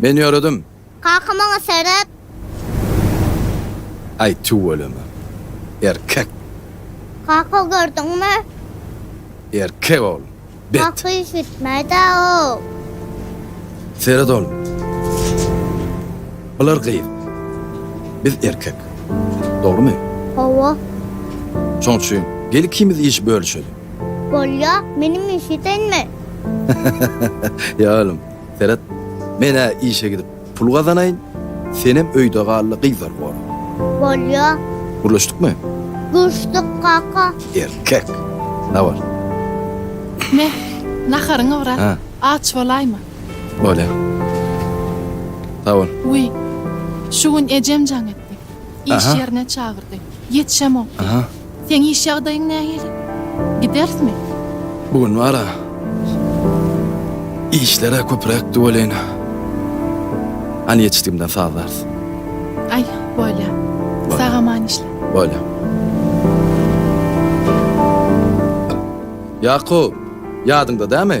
Men ýöredim. Kaka maňa seret. Aý tüweleme. Erkek. Kaka gördüňmi? Erkek ol. Bet. Kaka iş bitmedi ow. Seret oglum. Bular gyz. Biz erkek. Dogrymy? Hawa. Şoň üçin gel ikimiz iş bölüşeli. Bolýa, meniň işe senme. Ýa oglum, seret, men-ä işe gidip pul gazanaýyn, senem öýde galla gyzlary gora. Bolýa. Gürleşdikmi? Gürşdük, kaka. Erkek. Habar. Meh, naharyňy bir at. Aç bolaýma. Bolýa. Sag bol. Wiý, şu gün ejem jaň etdi. Iş ýerine çagyrdy. Ýetişemokdy. Seň iş ýagdaýyň nähili? Giderismi? Bu gün bar-a, işler-ä köpüräkdi welin, hany ýetişdigimden sazlarys. Aý, bolýa. Sag-aman işle. Bolýa. Ýakup, ýadyňda dämi?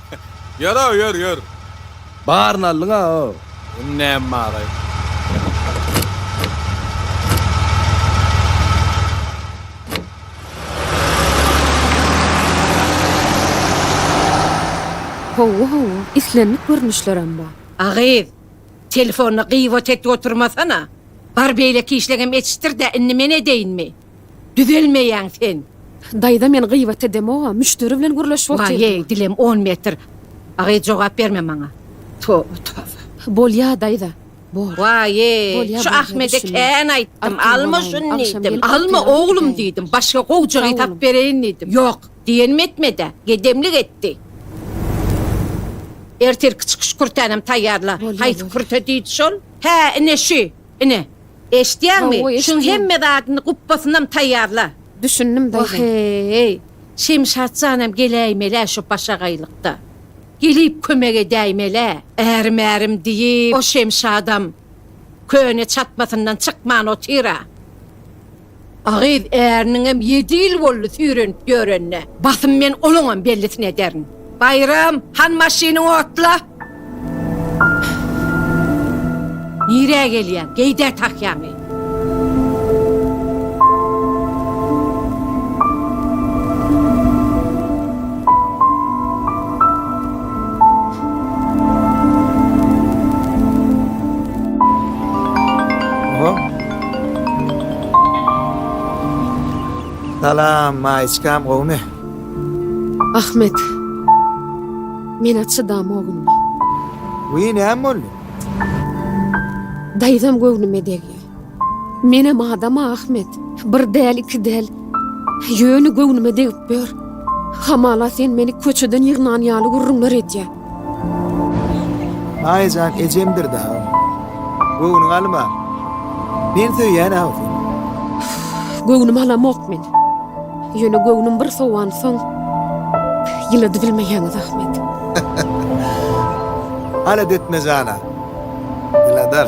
Ýöraw ýör ýör. Baryny aldyň a o. Indi näme baraý. Howwa howwa islendik görnüşlerem bar. A gyz, telefony gybat edip oturmasana. Bar beýleki işlegem etişdir-dä, indi men edeýinmi? Düzelmeýäň sen. Daýza men gyýbat edemoga müşderi bilen gürleşip otyrdy. Maýeý dilem on metr. Agy jogap berme maňa. Toba toba. Bolýa daýza. Bor. Waýeý şu Ahmede kän aýtdym alma şuny diýdim. Alma oglum diýdim. Başga gowjagy tap bereýin diýdim. Ýok. Diýenim etmedä. Gedemlik etdi. Ertirki çykyş kürtänem taýýarla. Haýsy kürte diýdi şol? Hä ine şü. Ine, eşitýäňmi? Hawa, Şuň eşidýän. hemme zadyny gupbasynam taýýarla. Düşündim, daýza. Oheý! Şemşat janam geläýmel-ä şu başagaýlykda. Gelip kömek edäýmel-ä. Ärim-ärim diýip, o Şemşadam köne çatmasyndan çykman otyr-a. A gyz äriniňem ýedi ýyl boldy süýrenip ýörenine. Basym men onuňam bellisini ederin. Baýram, han maşyny otla! Nirä gelýäň? Geýdä tahýaňy! Salam Maýiçkam gowmy. Ahmet. Menä çydam ogul. Wiý näme boldy. Daýzam göwnüme degýä. Menem adama Ahmet. Bir däl iki däl. Ýöne göwnüme degip ýör. Hamala sen meni köçeden ýygnan ýaly gürrüňler edýä. Aýjan ejemdir dagy. Göwnüňi alma. Men söýýän awsy. Göwnümi alamok men. Ýöne göwnüm bir sowan soň ýylady bilmeýäňiz Ahmet. Alada etme jana. Ýyladar.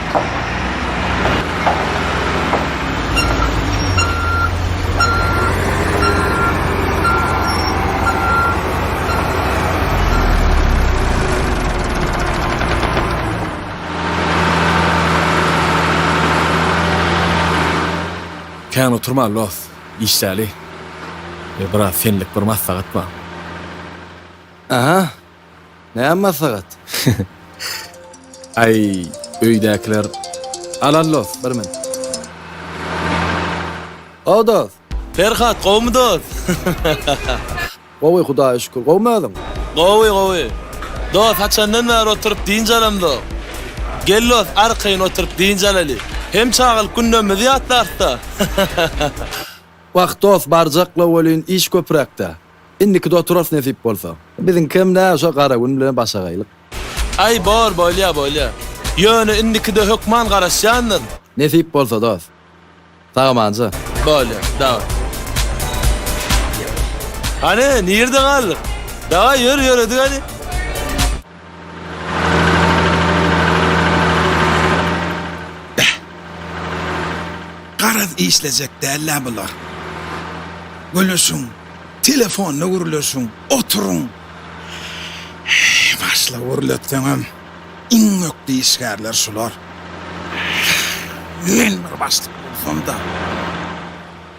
Kän oturma los, işdäli. Biraz senlik bir maslahat bar. Aha! Näme maslahat? Aý, öýdäkiler. Al, al dost, bir min. Gowy dost. Perhat, gowumy dost? Gowy, Hudaýa şükür. Gowumy özüň? Gowy, gowy. Dost, haçandan bäri oturyp dynç alamzok. Gel dost, arkaýyn oturyp dynç alaly. Hem çagalyk günlerimizi ýatlarys-da. Wah, dost, barjakla welin, iş köpräk-dä. Indikide oturas nesip bolsa. Biziňkem nä şo gara gün bilen başagaýlyk. Aý bor bolýa bolýa. Ýöne indikide hökman garaşýandyr. Nesip bolsa dos. Sagamanja. Bolýa daway. Hany nirde galdyk. Daway ýör ýöredik hany. Beh. Garaz işlejek dällä bular. Gülüşiň, telefonda gürleşiň, oturyň. Heý, başla gürletseňem, iň ökde işgärler şular. Men bir başlyk bolsam-da,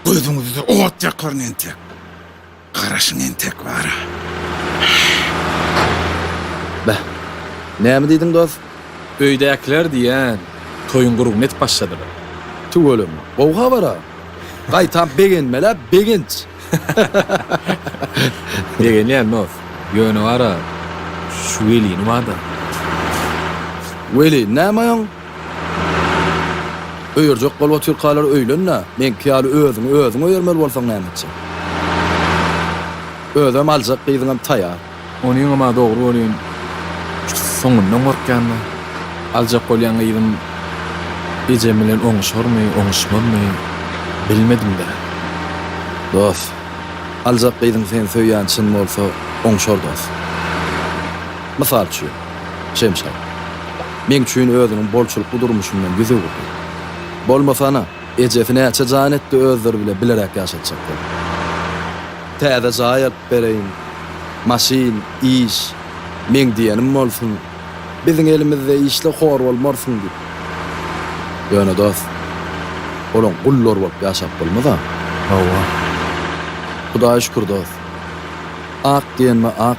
gözüňizde ot ýakaryn entek. Garaşyň entek bara. Beh. Näme diýdiň dos? Öýdäkiler diýýän, toýuň gurguny edip başladylar. Tüweleme. Gowy habar-a. Gaýtam begenmel-ä, begenç. Begenýän dos. Ýöne bar-a, şu welini bar-da. Welin näme oýuň? Öýerjek bolup otyrkalar öýlen-dä, meňki ýaly özüňi özüň öýermeli bolsaň näme etjek? Özem aljak gyzyňam taýar. Onyňam-a dogry bolýan. Soňundan gorkýan-da. Aljak bolýan gyzym ejem bilen oňuşarmy, oňuşmazmy, bilmedim-dä. Dost, aljak gyzyň seni söýýäni çyn bolsa, oňuşar dost. Mysal üçin. Şemşat. Meň üçin özüniň bolçulykly durmuşyndan ýüz öwürdi. Bolmasa-na, ejesi näçe jan etdi özleri bile bileräk ýaşatjak bolup. Täze jaý alyp bereýin, maşyn, iş, meň diýenim bolsun, biziň elimizde işle hor bolmarsyň diýip. Ýöne dost, olaň gullary bolup ýaşap bolmaz-a. Hawa. Hudaýa şükür dost. Ak diýenime ak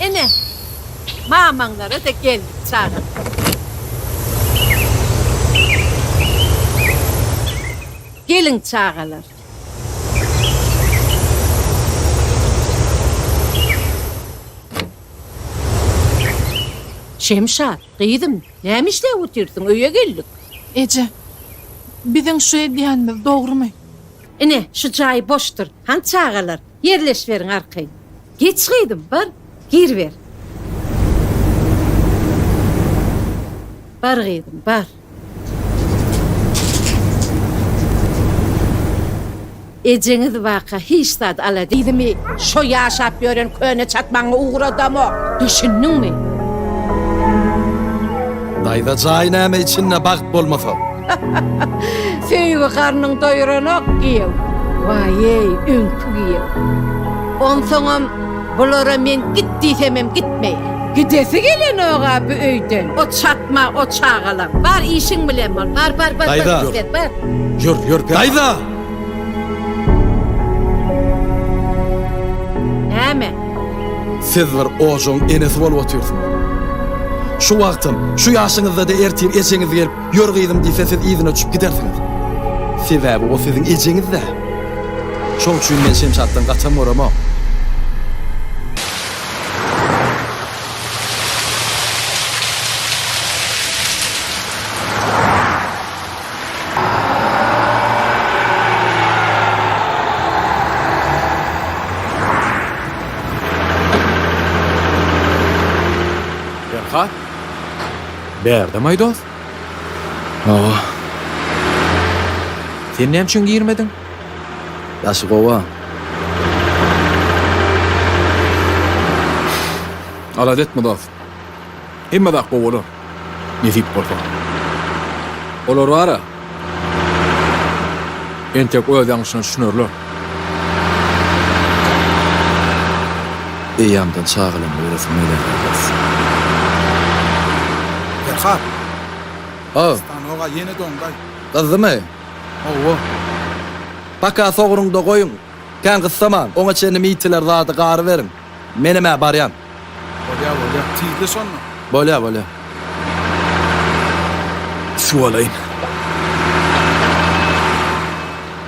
Ene, mamaňlara-da geldik çaga. Geliň çagalar. Şemşat, gyzym, näme işläp otyrsyň, öýe geldik. Eje, biziň şu edýänimiz dogrumy? Ine, şu jaý boşdur. Han çagalar, ýerleşiberiň arkaýyn. Geç gyzym, bar, giriber. Bar gyzym, bar. Ejeňiz waka hiç zat ala diýdimi? Şo ýaşap ýören köne çatmaňy ugradamok. Düşündiňmi? Daýza jaý näme içinde bagt bolmasa? Söýgi garnyň doýranok giýew. Waýeý, öňki giýew. Onsoňam. Bulara men git diýsemem gitmeýär. Gidesi gelenok-a bu öýden. O çatma, o çagalar. Bar işiň bilen bol. Bar, bar, bar, bar, gitgel, bar. Ýör, ýör, ýör. Daýza! Näme? Siz bir ojagyň enesi bolup otyrsyňyz. Şu wagtam, şu ýaşyňyzda-da ertir ejeňiz gelip, Ýör gyzym diýse siz yzyna uçup gidersiňiz. Sebäbi o siziň ejeňiz-dä. Şoň üçin men Şemşatdan gaçam göremok. Berka? Bärde maýdos? Hawa. Sen näme üçin girmediň? Daşy gowa. Alada etme dost. Hemme zat gowy bolar. Nesip bolsa. Olar bar-a. Entek öz ýalňyşyna düşünerler. Eýýamdan çagalama göresim gelýär Abbas. Perhat. Haw. Stanoga ýene doňdaý. Gyzdymy? Hawa. Paka sogruňda goýuň. Kän gyssaman. Oňa çenli miýtiler zady garyberiň. Menem-ä barýan. Bolýa bolýa tizle şonda. Bolýa bolýa. Suw alaýyn.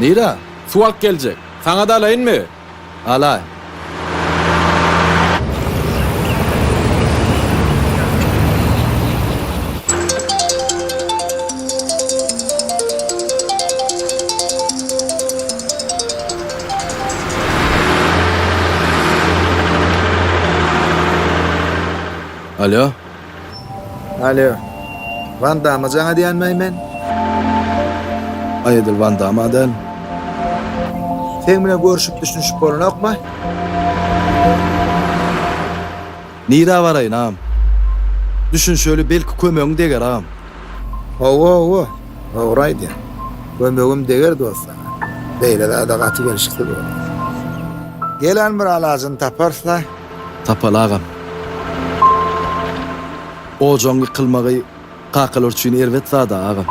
Nira suw alyp geljek. Saňa da alaýynmy? Alaý. Alýo. Alýo. Wan Dama jaň edýänmäý men? Aý edil Wan Dama däl. Seň bilen görşüp düşünşip bolanokmy? Nirä baraýyn agam? Düşün şöyle belki kömegiň deger agam. Hawa hawa dogry aýdýaň. Kömegim deger dost saňa. Beýle zada gaty gelşiksiz bolar. Gelen bir alajyny taparsda. Tapaly agam. Ojagyň ýykylmagy. Kakalar üçin erbet zada aga.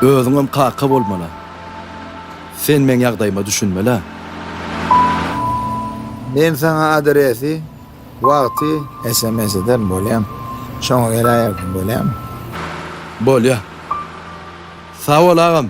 Özüňem kaka bolmala. Sen meň ýagdaýyma düşünmelä. Men saňa adresi, wagty. Sms ederin bolýam. Şoňa geläýerdim bolýamy. Bolýa. Sag bol agam.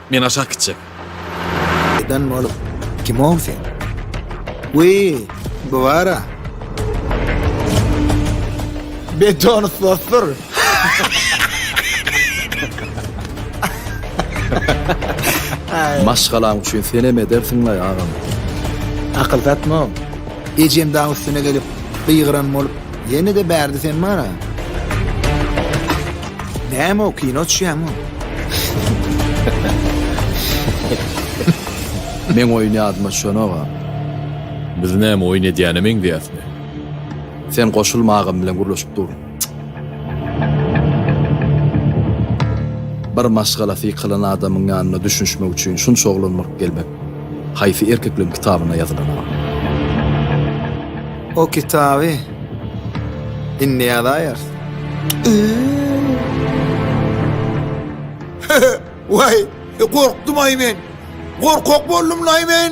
Men aşak gitjek. Eden bolup, kimow sen? Wi, bu bara. Beton sosur. Maşgalam üçin sen hem edersin lay agam. Akyl datma. Ejem daň üstüne gelip, gygyran bolup, Ýene-de bärde sen bar-a. Näme o, kino düşýäňmi? Meň oýun ýadyma düşenok-a. Biz näme oýun edýäne meňzeýäsmi? Sen goşulma agam bilen gürleşip dur. Bir maşgala sykylan adamyň ýanyna düşünişmek üçin şunça oglan baryp gelmek haýsy erkekleriň kitabyna ýazylan agam? O kitaby indi ýazaýarys. Waý, e, gorkdum-aý men. Gorkak boldum-laý men.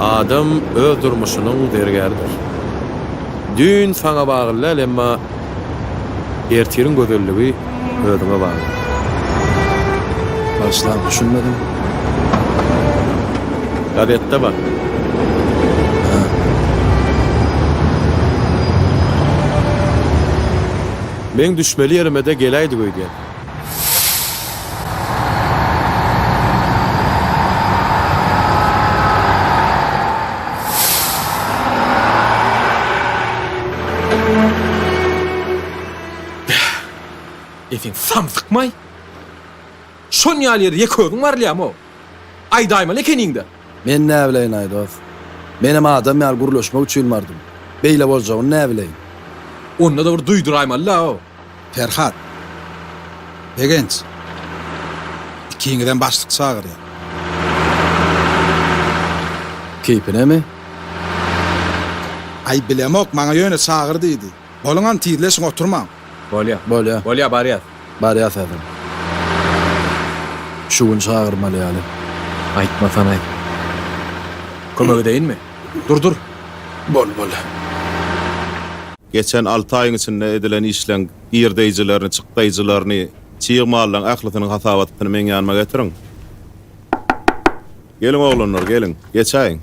Adam öz durmuşynyň zergäridir. Düýn saňa bagly däl, emma ertiriň gözelligi özüňe bagly. Bagyşlaň, düşünmedim. Gazetde bar. Meň düşmeli ýerime-de geläýdik öýdýän. Etin samsykmaý. Şon ýaly ýer ýek özüň barylýamy? Aýdaýmaly ekeniň-de. Men näbileýin, aý dost. Menem adam ýaly gürleşmek üçin bardym. Beýle boljagyny näbileýin. Onda-da bir duýduraýmaly-da. Perhat. Begenç. Ikiňizem başlyk çagyrýar. Keýpinemi? Aý, bilemok, maňa ýöne çagyr diýdi. Boluň hany, tizleşiň, oturmaň. Bolýa. Bolýa. Bolýa, barýas. Barýas häzir. Şu gün çagyrmaly ýaly. Aýtmasan-aý. Kömek edeýinmi? Dur dur. Bol bol. Geçen alty aýyň içinde edilen işleň girdeýjilerini, çykdaýjylaryny, çig mallaň ählisiniň hasabatyny meň ýanyma getiriň. Geliň oglanlar, geliň. Geçäýiň.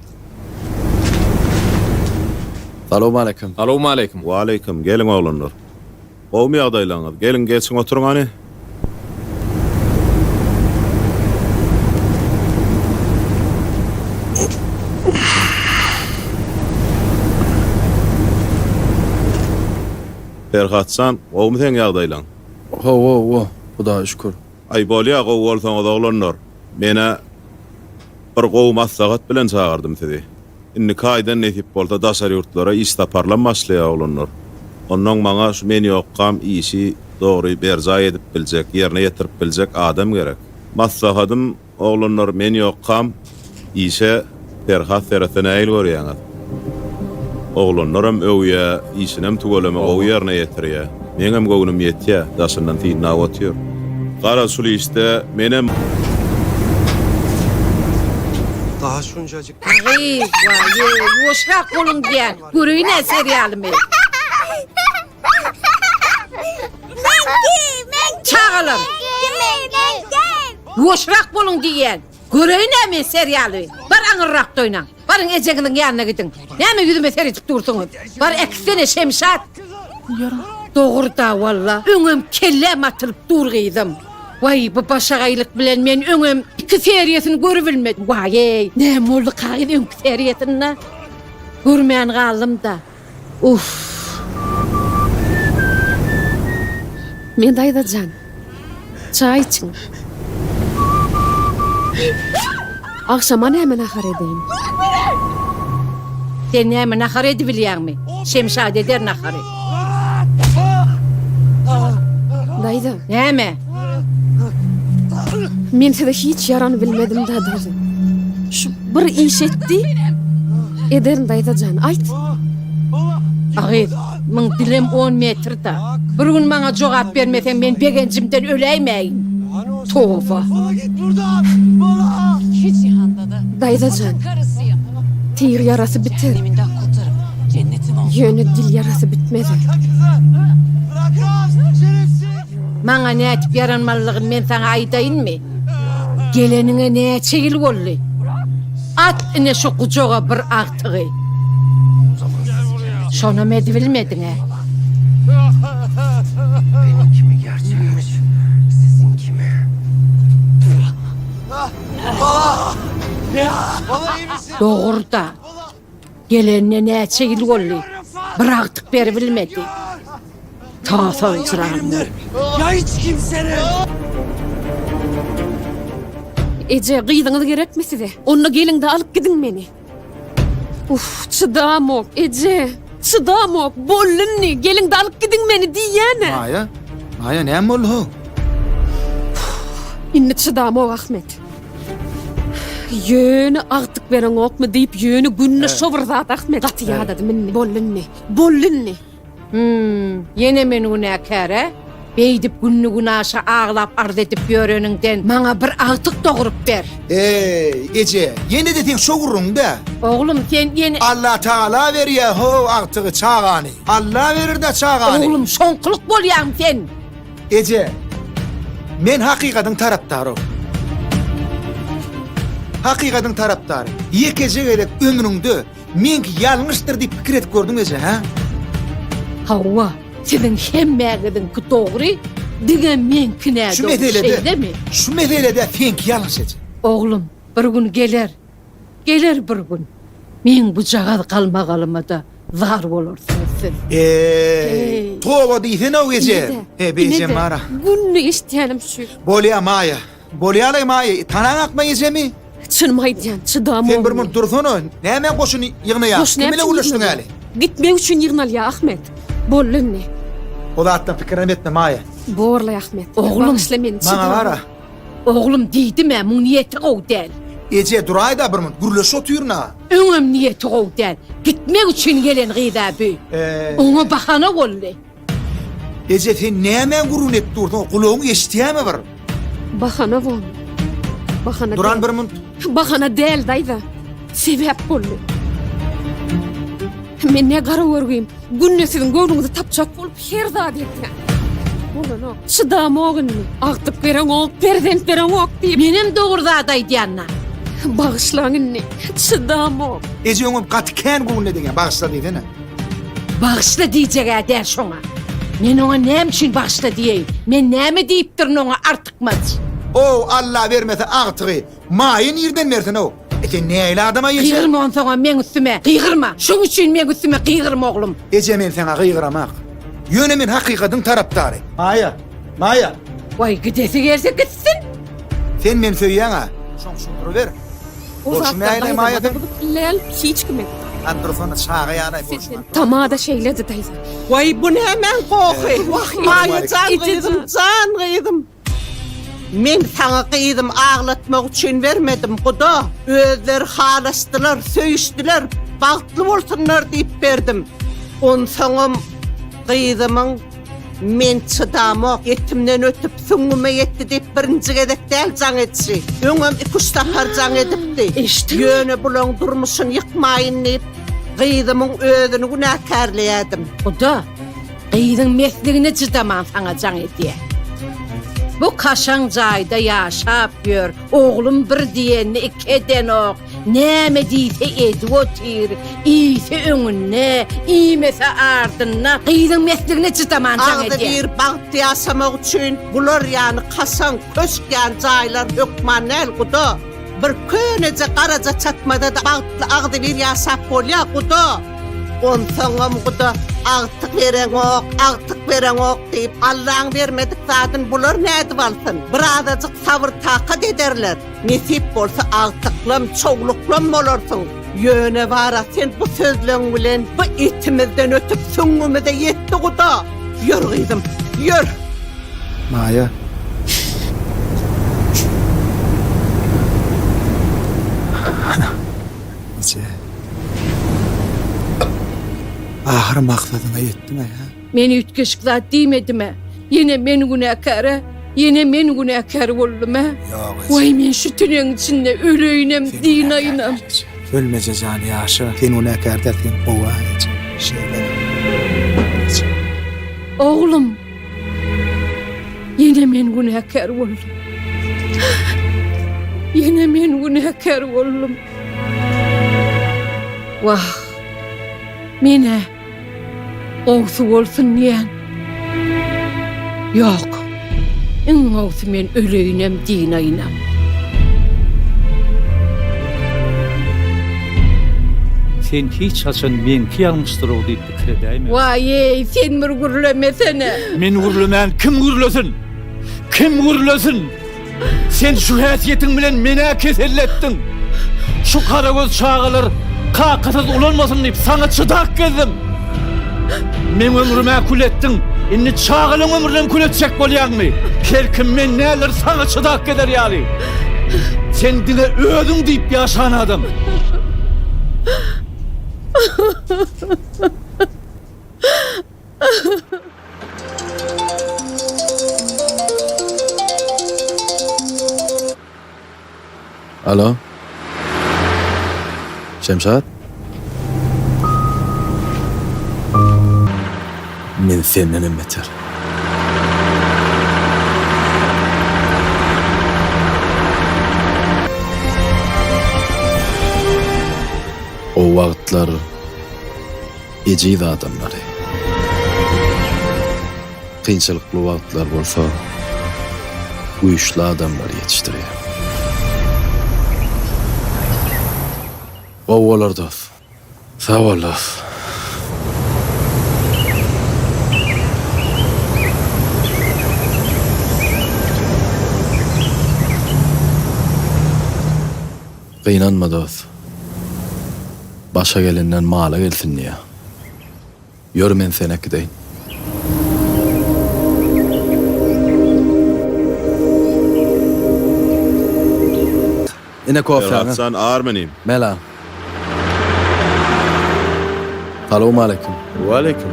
Salowmaleýkim. Salowmaleýkim. Waleýkim. Geliň oglanlar. Gowmy ýagdaýlaryňyz? Geliň, geçiň oturyň hany. Perhat jan, gowmy seň ýagdaýlaň? Hawa, wah, Hudaýa şükür. Aý, bolýa, gowy bolsaňyz, oglanlar. Men-ä bir gowy maslahat bilen çagyrdym sizi. Indiki aýdan nesip bolsa daşary ýurtlara iş saparlam başlaýar oglanlar. Onnoň maňa şu men ýokkam işi dogry berjaý edip biljek, ýerine ýetirip biljek adam gerek. Maslahatym, oglanlar men ýokkam işe Perhat seretse nägil görýäňiz? Oglanlaram öwýä, işinem tüweleme gowy ýerine ýetirýä. Meňem göwnüm ýetýä, daşyndan synlap otyr. Garaz şul işde menem. Daha şunjacik. Agyýy, waýýy, ýuwaşrak boluň diýýän, göreýin-ä serialymy. Çagalar! Ýuwaşrak boluň diýýän, göreýin-ä men serialy. Bar aňyrrak doýnaň. Baryň ejeňiziň ýanyna gidiň. Näme ýüzüme seredip dursuňyz? Bar äkitsene Şemşat. Dogry-da walla, öňem kelläm atylyp dur gyzym. Waý, bu başagaýlyk bilen men öňem iki seriýasyny görübilmedim. Waý-eý, näme boldy kagyz öňki seriýasynda? Görmän galdym-da. Uff. Men daýza jan, çaý içiň. Agşama näme nahar edeýin? Sen näme nahar edibilýäňmi? Şemşat eder nahary. Daýza. Näme? Men size hiç ýarany bilmedim da daýza. Şu bir iş etdi. Ederin daýza jan, aýt. Agyz. Muň bilem on metrda. Bir gün maňa jogap bermeseň men begenjimden öläýmäýin. Toba. Bala git burdan. Bala. Iki jihanda-da. Daýzajan. Tir ýarasy biter. Ýöne dil ýarasy bitmez. Maňa nädip ýaranmalylygyny men saňa aýdaýynmy? Geleniňe näçe ýyl boldy? At ine şu gujaga bir agtygy. Şonam edibilmediň-ä. Meniň kimi gerçek imiş, siziň kimi. Bala! Bala iýmisiň? Dogry-da. Gelenine näçe ýyl boldy, bir agtyk beribilmedi. Tasa ysrarymdyr. Ýa hiç kimseden. Eje, gyzyňyz gerekmi size? Onda geliň-de alyp gidiň meni. Uff, çydamok, eje. Çydamok, boldy indi, geliň-de alyp gidiň meni diýýän-ä. Maýa, Maýa näme boldy-how? Indi çydamok, Ahmet. Ýöne agtyk bereňokmy diýip, ýöne günde şo bir zat Ahmet gaty ýadadym indi. Boldy indi. Boldy indi. Hüm, ýene men günäkär-ä? Beýdip günli-günaşa aglap arz edip ýöreniňden maňa bir agtyk dogrup ber. Eý, eje, ýene-de seň şo gürrüňiň-dä. Oglum, sen ýene. Allatagala berýär-how agtygy, çagany. Alla berer-dä çagany. Oglum, şoňkulyk bolýaň sen. Eje, men hakykadyň tarapdary. Hakykadyň tarapdary. Ýekeje gezek ömrüňde meňki ýalňyşdyr diýip pikir edip gördüňmi eje, hä? Hawa, siziň hemmäňiziňki dogry, diňe meňki nädogry, şeýlemi? Şu meselede seňki ýalňyş eje. Oglum, bir gün geler. Geler bir gün, meň bujagaz galmagalyma-da zar bolarsyňyz siz. Eý, toba diýsene-ow eje! He, beýjem bar-a. Günde eşitýänim şu. Bolýa, Maýa. Bolýa-laý, Maýa, tanaň akma ejemi? Çynymy aýdýan, çydamok. Sen bir munt dursana, nämä goşun ýygnaýaň? Goşun näme üçin ýygnaýaň? Gitmek üçin ýygnalýar, Ahmet. Boldy indi. O zatdan pikirem etme, Maýa. Bor-laý, Ahmet. Oglum, maňa gara. Oglum diýdim-ä, muň niýeti gowy däl. Eje, duraý-da bir munt, gürleşip otyryn-a. Öňem niýeti gowy däl. Gitmek üçin gelen gyz-a bu. Oňa bahana boldy. Eje, sen nämäň gürrüňini edip dursuň, gulagyň eşidýärmi bir? Bahana boldy. Bahana däl. Duran bir munt. Bahana däl, daýza. sebäp boldy. Men ne gara görgüim, günde siziň göwnüňizi tapjak bolup her zady etýän. Bolanok, çydamok indi. Agtyk bereňok, perzent bereňok diýip. Menem dogry zat aýdýan-da. Bagyşlaň indi, çydamok. Eje öňem gaty kän göwnüne degýär, bagyşla diýsene. Bagyşla diýjeg-ä däl şoňa. Men oňa näme üçin bagyşla diýeýin? Men näme diýipdirin oňa artykmaç? Ow, Alla bermese agtygy. Maýa nirden bersin-ow? E sen näýli adama eje? Gygyrma onsoňam meň üstüme, gygyrma! Şoň üçin meň üstüme gygyrma, oglum! Eje men saňa gygyramak. Ýöne men hakykadyň tarapdary. Maýa! Maýa! Waý gidesi gelse gitsin! Sen meni söýýäň-a? Şoň üçin duruber. O Bolşy zatdan näýli Maýa daýzama-da sen? bu pilleýän hiç kim edip. Hany dursana çaga ýanaý bolşy näýli? Tama-da şeýledi daýza. Waý bu nämäň gohy? Wah Maýa jan gyzym, jan gyzym! Men saňa gyzym aglatmak üçin bermedim guda özleri halaşdylar söýüşdiler bagtly bolsunlar diýip berdim onsaňam gyzymyň men çydamok etimden ötüp süňňüme ýetdi diýip birinji gezek däl jaň etşi öňem iki üç sapar jaň edipdi eşitdiňmi ýöne bulaň durmuşyny ýykmaýyn diýip gyzymyň özüni günäkärleýädim guda Gyzyň mesligine cydaman saňa jaň edýär. Bu kaşaň jaýda ýaşap ýör, oglum bir diýenini iki edenok, näme diýse edip otyr, iýse öňünde, iýmese ardynda, gyzyň mesligine cydaman jaň edýär. Agzybir bagtly ýaşamak üçin bular ýaly kaşaň, köşk ýaly jaýlar hökman däl, guda. Bir köneje garaja çatmada-da bagtly agzybir ýaşap bolýa, guda! Onsoňam, guda, agtyk bereňok, agtyk bereňok diýip, Allaň bermedik zadyn bular nädip alsyn? Bir azajyk sabyr-takat ederler, nesip bolsa agtyklam, çowluklam bolarsyň. Ýöne bara sen bu sözleň bilen bu etimizden ötüp süňňümize ýetdi guda. Ýör gyzym, ýör. Maýa. Eje. Ahyry maksadyňa ýetdiň-ä. Men üýtgeşik zat diýmedim-ä. Ýene men günäkär-ä? Ýene men günäkär boldum-a? Waý, men şu tüneň içinde öleýinem, dynaýynam. Ölmeje jan, ýaşa. Sen günäkär däl, sen gowy-a, eje. Şeýle. Oglum! Ýene men günäkär boldum. Ýene men günäkär boldum. Wah, men-ä. Gowsy bolsun diýýän. Ýok. Iň gowsy men öleýinem dynaýynam. Sen hiç haçan meňki ýalňyşdyrow diýip pikir edäýme. Waýeý, sen bir gürlemesene. Men gürlemän kim gürlesin? Kim gürlesin? Sen şu häsiýetiň bilen men-ä keselletdiň. Şu garagöz çagalar kakasyz ulalmasyn diýip, saňa çydap gezdim. Meň ömrüm-ä kül etdiň, indi çagalaň ömrünem kül etjek bolýaňmy? Kerkim men näler saňa çydap gezer ýaly? Sen diňe özüň diýip ýaşan adam. Alo. Şemşat. Men senden hem beter. O wagtlar ejiz adamlary. Kynçylykly wagtlar bolsa güýçli adamlary ýetişdirýär. Gowy bolar dos. Sag bol dos. Gynanma dost. Başa gelenden mala gelsin diýýär. Ýör men seni äkideýin. Ine kofäňiz. Ferhatjan Armenim. Mela. Salowmaleýkim. Waleýkim.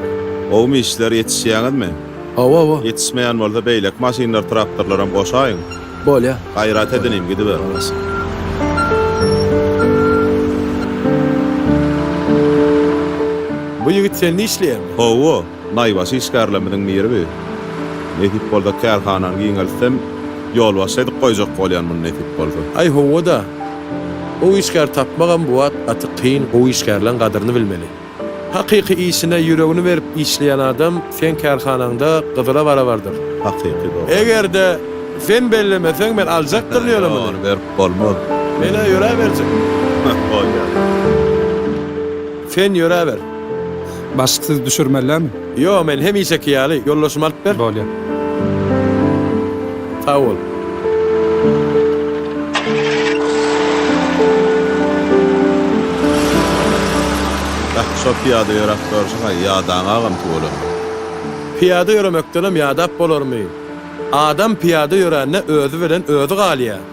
Gowumy işler ýetişýäňizmi? Hawa hawa. Ýetişmeýän bolsa beýleki maşynlar traktorlaram goşaýyň. Bolýa. Gaýrat edin inim gidiber. Alasyn. Bu ýigit sende işleýärmi? Hawa, naýbaşy işgärlerimiziň biri bi. Nesip bolsa kärhanany giňeltsem, ýolbaşçy edip goýjak bolýan muny nesip bolsa. Aý hawa-da. Gowy işgär tapmagam bu wagt gaty kyn, gowy işgärleň gadyryny bilmeli. Hakyky işine ýüregini berip işleýän adam seň kärhanaňda gyzyla barabardyr. Hakyky dogan. Egerde sen bellemeseň men aljakdyryn ýöne muny. Ony berip bolmaz. Menä ýöräberjek. Bolýar. Sen ýöräber. Başyk siz düşürmelem. Ýok, men hemişeki ýaly, ýoldaşyma alyp ber. Bolýar. Sag bol. Beh, şo pyýada ýöräp görşi-haý, ýadaň agam tüweleme. Pyýada ýöremekdenem ýadap bolarmy? Adam pyýada ýörände özi bilen özi galýar.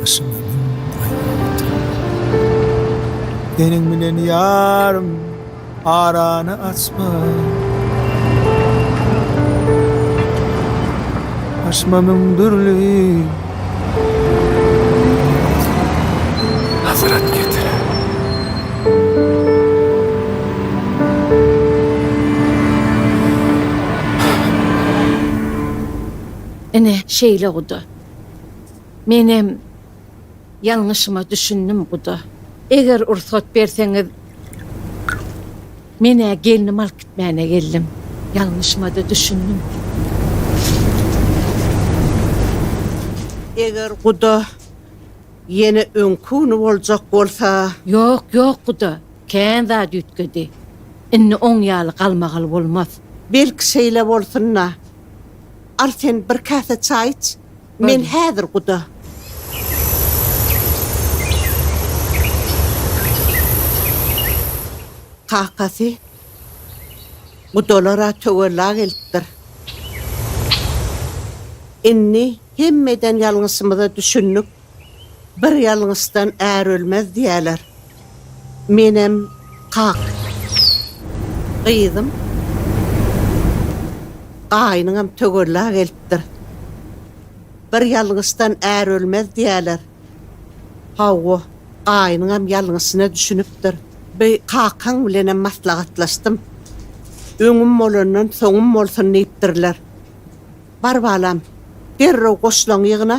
Başyma müň gaýgy getirip. Seniň bilen ýarym arany açma. Başyma müň dürli. Ine, şeýle guda. Menem ýalňyşyma düşündim guda. Eger rugsat berseňiz menä gelnimi alyp gitmäne geldim. Ýalňyşymada düşündim. Eger guda ýene öňki güni boljak bolsa. Ýok ýok guda kän zat üýtgedi. Indi oň ýaly galmagal bolmaz. Belki şeýle bolsunda. Al sen bir käse çaý iç. Men häzir guda. Kakasy, Gudalar-a töwella gelipdir. Indi hemme eden ýalňyşymyza düşündik. Bir ýalňyşdan är ölmez diýýäler. Menem kak. Gyzym. Gaýnyňam tögella gelipdir. Bir ýalňyşdan är ölmez diýýäler. Hawa, gaýnyňam ýalňyşyna düşünipdir. Bi kakaň bilenem maslahatlaşdym. Öňüm bolandan soňum bolsun diýipdirler. Bar balam, derrew goşlaňy ýygna.